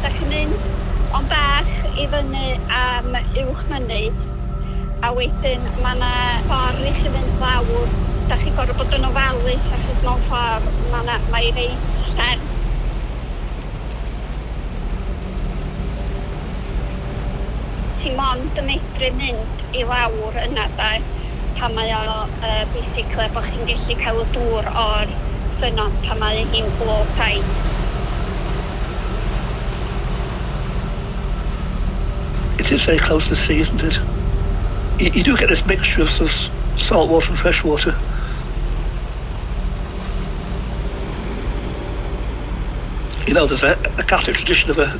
Dach chi'n mynd ond bach i fyny am uwch mynydd a wedyn ma' 'na ffor i chi fynd lawr, dach chi'n gor'o' bod yn ofalus achos mewn ffor ma' 'na mae reit serth. Ti mond yn medru mynd i lawr yna de, pan mae o yy basically bo' chi'n gellu cael y dŵr o'r ffynnon pan mae hi'n low tide. It is very close to the sea isn't it? You you do get this mixture of sort of salt water and fresh water. You know there's a a Catholic tradition of a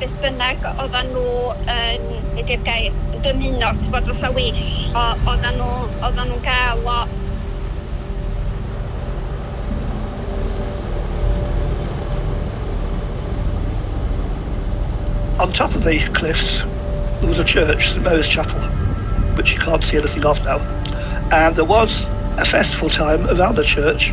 beth bynnag oddan nhw yn, be di'r gair, yn dymuno, ti gwbod, fatha wish, o- oddan nhw, oddan nhw'n ga'l o. On top of the cliffs there was a church, St Mary's Chapel, which you can't see anything of now, and there was a festival time around the church.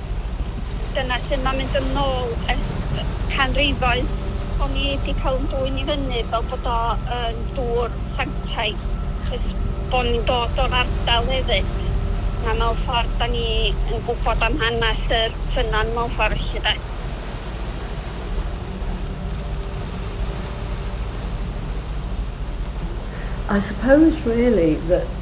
Dyna lle mae'n mynd yn ôl ers canrifoedd. O'n i 'di cael 'yn dwyn i fyny fel bod o yn dŵr sanctaidd, achos bo' ni'n dod o'r ardal hefyd, a mewn ffordd 'dan ni yn gwbod am hanes yr ffynnon mewn ffor' felly 'de. I suppose really that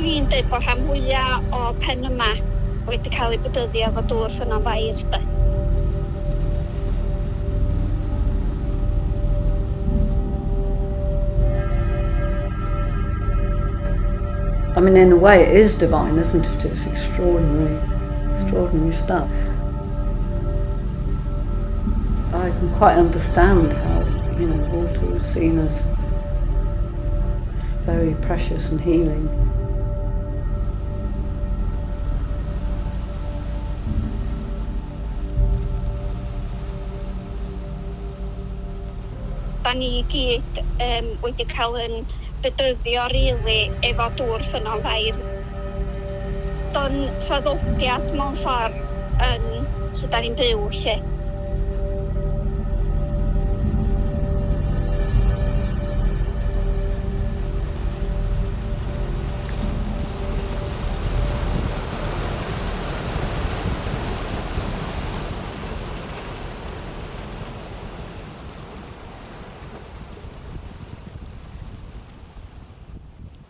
Ni'n deud bod rhan fwya o pen yma wedi cael ei bwdyddio efo dŵr Ffynnon Fair de. I mean in a way it is divine isn't it, it's extraordinary, extraordinary stuff. I can quite understand how, you know, water was seen as very precious and healing. Da ni i gyd um, wedi cael yn bedyddio rili really, efo dŵr ffynnon fair. Do'n traddodiad mewn ffor yn lle da ni'n byw 'lly.